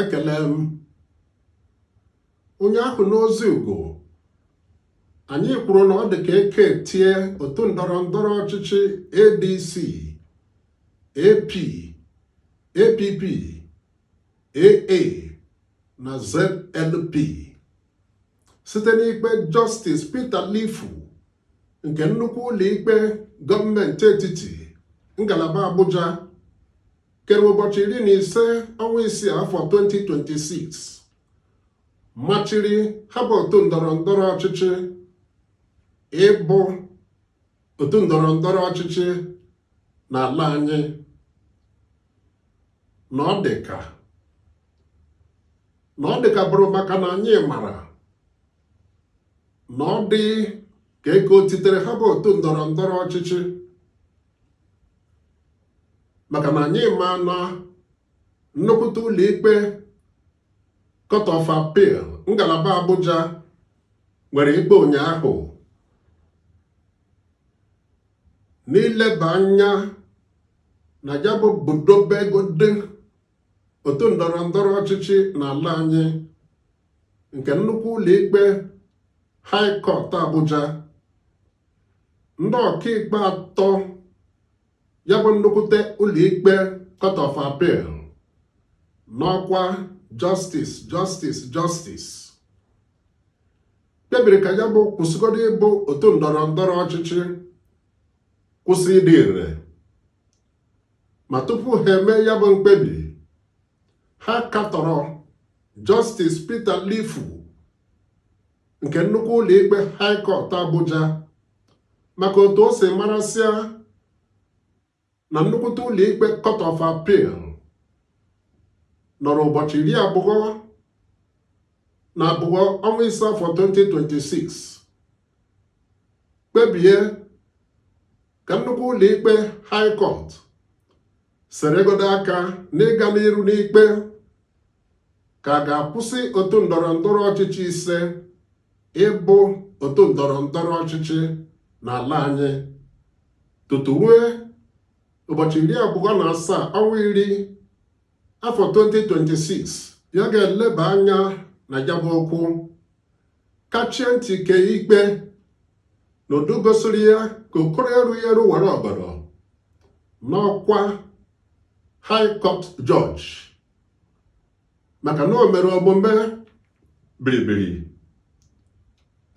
ekele m onye ahụ n'ozi ugo anyị kwuru na ọ dị ka eke tie otu ndọrọ ndọrọ ọchịchị ADC AP APP AA na ZLP site n'ikpe Justice Peter Lifu nke nnukwu ụlọikpe gọọmenti etiti ngalaba Abuja kere ụbọchị iri na ise ọnwa isii afọ 2026 machiri ha bụ otu ndọrọ ndọrọ ọchịchị ịbụ otu ndọrọ ndọrọ ọchịchị n'ala anyị na ọ dị ka na ọ dị ka bụrụ maka na anyị mara na ọ dị ka eke o titere ha bụ otu ndọrọ ndọrọ ọchịchị maka na anyị ma na nnukwute ụlọikpe Court of Appeal ngalaba Abuja nwere ikpe ụnyaahụ n'ileba anya na ya bụ budobegodi otu ndọrọ ndọrọ ọchịchị n'ala anyị nke nnukwu ụlọikpe High Court Abuja ndị ọkaikpe atọ ya bụ nnukwute ụlọikpe Court of Appeal n'ọkwa Justice Justice Justice kpebiri ka ya bụ kwụsịgodo ịbụ otu ndọrọ ndọrọ ọchịchị kwụsị ịdị ire ma tupu ha emee ya bụ mkpebi ha katọrọ Justice Peter Lifu nke nnukwu ụlọikpe High Court Abuja maka otu o si marasịa na nnukwute ụlọikpe Court of Appeal nọrọ ụbọchị iri abụọ na abụọ ọnwa ise afọ 2026 kpebie ka nnukwu ụlọikpe High Court seregodo aka n'ịga n'iru n'ikpe ka a ga-akwụsị otu ndọrọ ndọrọ ọchịchị ise ịbụ otu ndọrọ ndọrọ ọchịchị n'ala anyị tutu rue ụbọchị iri abụọ na asaa ọnwa iri afọ 2026 ya ga-eleba anya na ya bụ okwu kachie ntị kee ikpe n'ụdị gosiri ya ka okoro erughị eru wara ọgọdọ n'ọkwa high court judge maka na o mere omume biribiri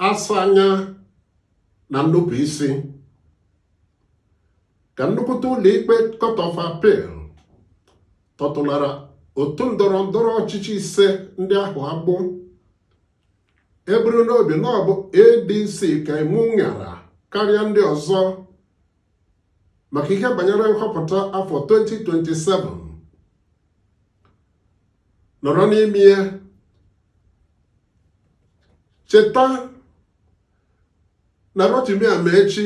asa anya na nnupụ isi ka nnukwute ụlọikpe court of appeal tọtụlara otu ndọrọ ndọrọ ọchịchị ise ndị ahụ agbụ eburu n'obi na ọ bụ adc ka imu ṅara karịa ndị ọzọ maka ihe banyere nhọpụta afọ 2027 nọrọ n'ime ya cheta na Rotimi Amaechi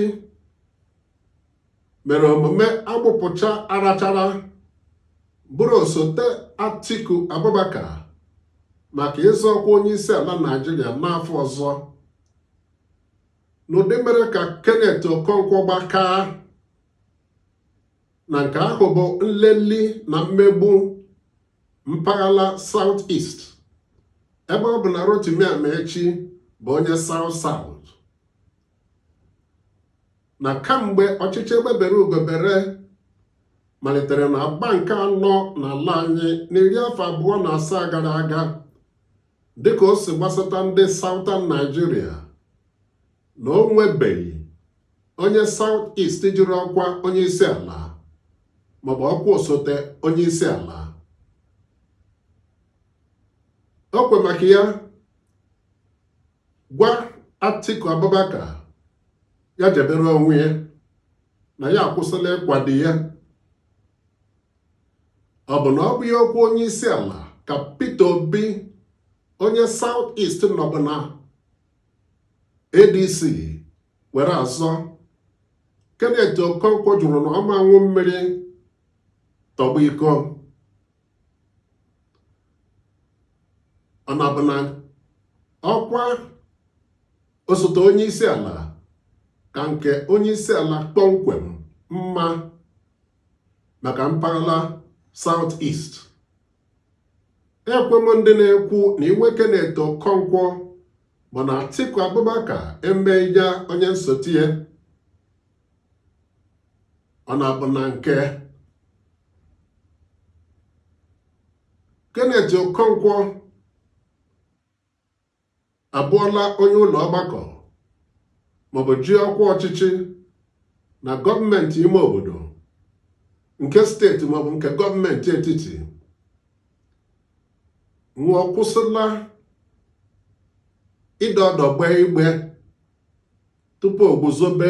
mere omume agbụpụcha arachara bụrụ osote Atiku Abubakar maka ịzọ ọkwa onye isi ala Naijiria n'afọ ọzọ n'ụdị mere ka Kenneth Okonkwo gbakaa na nke ahụ bụ nleli na mmegbu mpaghara South East ebe ọ bụ na Rotimi Amaechi bụ onye South South na kamgbe ọchịchị egbe bere ugo bere malitere na agba nke anọ n'ala anyị n'iri afọ abụọ na asaa gara aga dịka o si gbasata ndị Southern Nigeria na o nwebeghị onye South East jiri ọkwa onye isi ala maọbụ ọkwa osote onye isi ala o wee maka ya gwa Atiku Abubakar ya jebere onwe ya na ya akwụsịla ịkwado ya ọ bụ na ọ bụghị ọkwa onye isi ala ka Peter Obi onye South East nọbu na ADC were azọ Kenneth Okonkwo jụrụ na ọ ma ṅụ mmiri tọgbọ iko ọ na-abụ na ọkwa osote onye isi ala ka nke onye isi ala kpọmkwem mma maka mpaghara South East ekwe m ndị na-ekwu na iwe Kenneth Okonkwo bụ na Atiku Abubakar emeghị ya onye nsote ya ọ na-abụ na nke Kenneth Okonkwo abụọla onye ụlọ ọgbakọ maọbụ ji ọkwa ọchịchị na gọọmenti ime obodo nke steeti maọbụ nke gọọmenti etiti nwụọ kwụsịla ịdọ ọdụ gbee igbe tupu o guzobe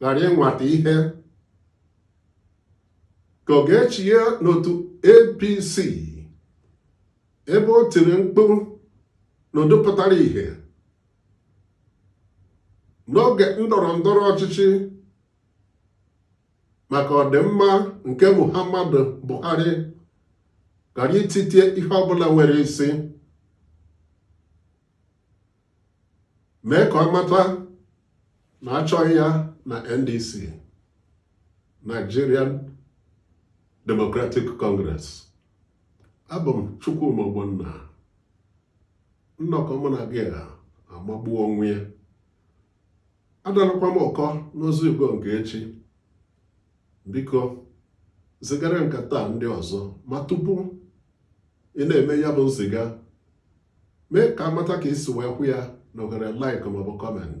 ghara ịnwata ihe ka ọ ga-echi ya n'otu APC ebe o tiri mkpu n'ụda pụtara ihe n'oge ndọrọ ndọrọ ọchịchị maka ọdịmma nke Muhammadu Buhari ghara ititie ihe ọbụla nwere isi mee ka ọ mata na achọghị ya na NDC Nigerian Democratic Congress abụ m Chukwuma Ogbonna nnọkọ mụ na gị a amagbuo onwe ya adalakwa m ụkọ n'ozi Igbo nke echi biko zigara nke taa ndị ọzọ ma tupu ị na-eme ya bụ nziga mee ka a mata ka i si wee hụ ya na oghere like maọbụ comment